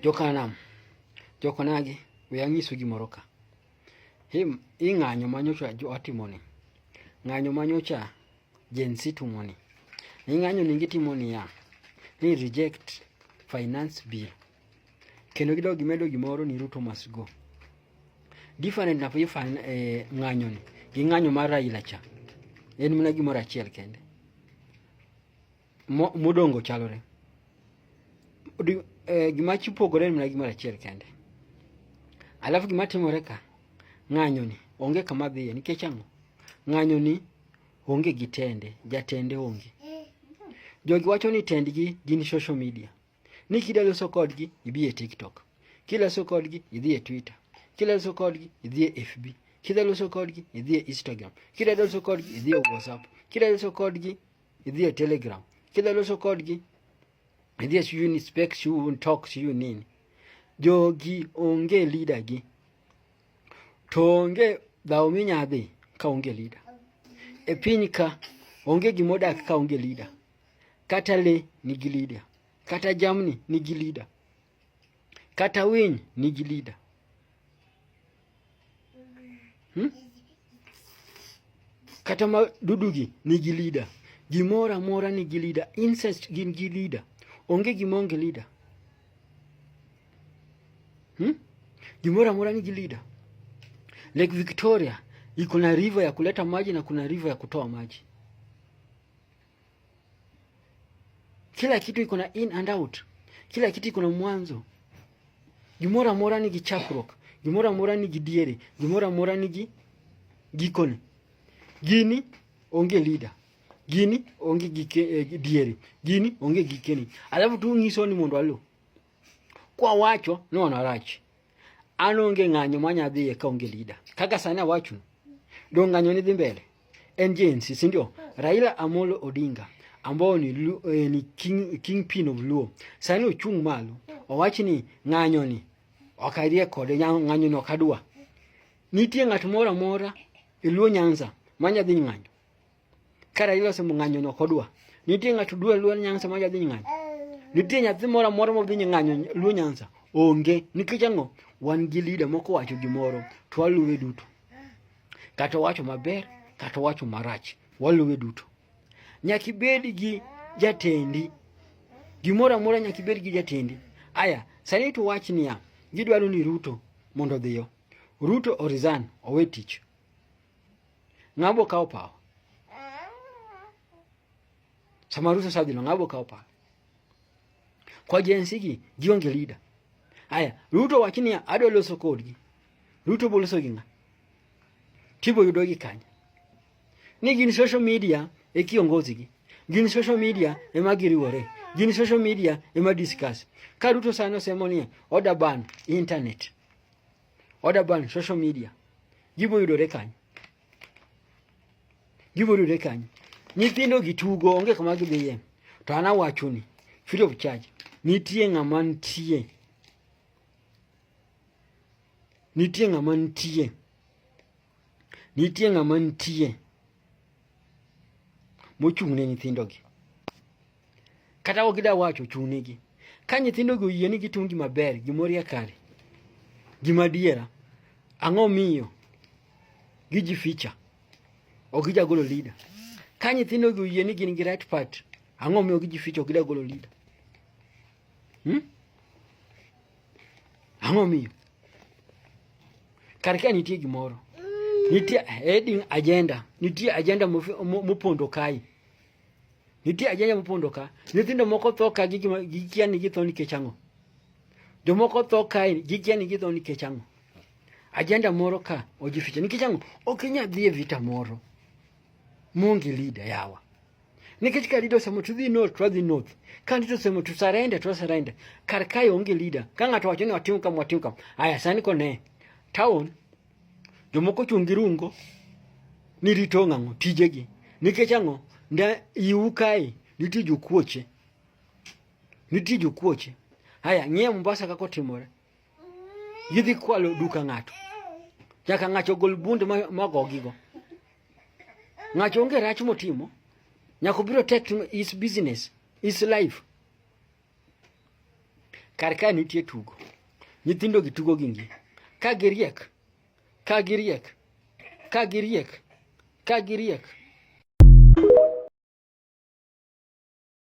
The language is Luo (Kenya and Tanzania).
Jokanam, jokonagi, we ang'isu gimoro ka. Him, i ng'anyo ma nyocha jo atimoni. Ng'anyo ma nyocha Gen Z tumoni. Ni ng'anyo ni gitimo niya, ni reject finance bill. Kendo gidog gimedo gimoro ni Ruto must go. Different na fan eh, ng'anyo ni. Gi ng'anyo mar Raila cha. En mana gimoro achiel kende. modongo chalore eh, gima chipogore en mana gimoro achiel kende alafu gima timore ka ng'anyoni onge kama dhiye nikech ang'o ng'anyoni onge gi tende jatende onge jogi wacho ni tendgi gin social media ni kida loso kodgi ibi e tiktok kiloso kodgi idhi e twitter kiloso kodgi idhi e fb kida loso kodgi idhi e instagram kida loso kodgi idhi e whatsapp kida loso kodgi idhi e telegram kidwa loso kodgi idhi e siu ni spek siu talk siu nini jogi onge leader gi to onge dhawo minya dhi ka onge leader e piny ka onge gimodak ka onge leader kata le nigi leader kata jamni nigi leader Kata winy nigi leader. Hmm? Kata ma dudugi nigi leader. Gimoro amora nigi leader. Insect gin gi leader. Onge gima onge leader. Hmm? Gimoro amora nigi leader. Lake Victoria iko na river ya kuleta maji na kuna river ya kutoa maji. Kila kitu iko na in and out, kila kitu iko na mwanzo. Gimoro amora nigi chakruok, gimoro amora nigi diere, gimoro amora nigi gikone. Gini onge leader, gini onge gike, eh, diere, gini onge gikeni. Alafu tu nyiso ni mondo alu kwa wacho ni wanarach An onge ng'anyo ma nya dhiye ka onge lida. Kaka sani awacho, do ng'anyo ni dhi mbele. En jinsi, si ndio? Raila Amolo Odinga ambao ni, eh, ni king, king pin of Luo. Sani ochung' malo, owachi ni ng'anyo ni okadhie kode ng'anyo ni okadwa. Nitie ng'at moro amora e Luo Nyanza manya dhi ng'anyo. Kara iloso mung'anyo no kodwa. Nitie ng'ato dwa luo nyansa ma jadhi ng'anyo. Nitie nyathi moro moro ma dhi ng'anyo luo nyansa. Onge. Nikech ang'o? Wan gi leader moko wacho gimoro to waluwe duto. Kata wacho maber, kata wacho marach. Waluwe duto. Nyaki bed gi jatendi. Gimoro amora nyaki bed gi jatendi. Aya, sani to wach niya, gidwaro ni Ruto mondo dhiyo. Ruto orizan, owe tich. Ng'abo kawo pawa. Sama rusa sadhino ng'abo kawo pawa. Kwa jensi gi gionge leader. Aya, Ruto wacho niya adwa loso kodgi. Ruto boloso gi ng'a? Tibo yudo gi kanya. Ni gin social media e kiongozi gi. Gin social media e ma giriwore. Gin social media e ma discuss. Ka Ruto sano semo niya oda ban internet. Order ban social media. Gibo yudore kanyo. Gibo yudore kanyo. Nyithindo gi tugo onge kama gidhiye. To ana wacho ni free of charge. Nitie ng'ama nitie. Nitie ng'ama nitie. Nitie ng'ama nitie. Mochung' ne nyithindogi. kata ok gida wacho chunigi ka nyithindogi oyie ni gitim gima ber gimorie kare gima diera ang'o miyo giji ficha ok gija golo leader ka nyithindogi oyie ni gin gi right part ang'o miyo giji ficha ok gida golo leader hmm? ang'o miyo kar ka nitie gimoro nitie heading agenda nitie agenda mopondo kae Nitie ajanya mopondo ka. Nyithindo moko tho ka gikia ni githo nikech ang'o. Jomoko tho ka gikia ni githo nikech ang'o. Ajenda moro ka ojificha nikech ang'o. Ok inyal dhi e vita moro. Mungi leader yawa. Nikech ka leader osemo to dhi north to dhi north. Ka leader osemo to surrender to surrender. Kar kae onge leader. Ka ng'ato wacho ni watim kama watim kama. Aya sani kone. Town Jomoko chung' gi rungo ni rito ng'ang'o tijegi nikech ang'o nda iwu kae nitie jokuoche nitie jokuoche haya ng'e Mombasa kaka otimore gidhi kwalo duka ng'ato nyaka ng'acho gol bunde magogigo ng'acho onge rach motimo nyaka obiro tek is business is life kar ka nitie tugo nyithindo gi tugo gi ngi ka giriek ka giriek ka giriek ka giriek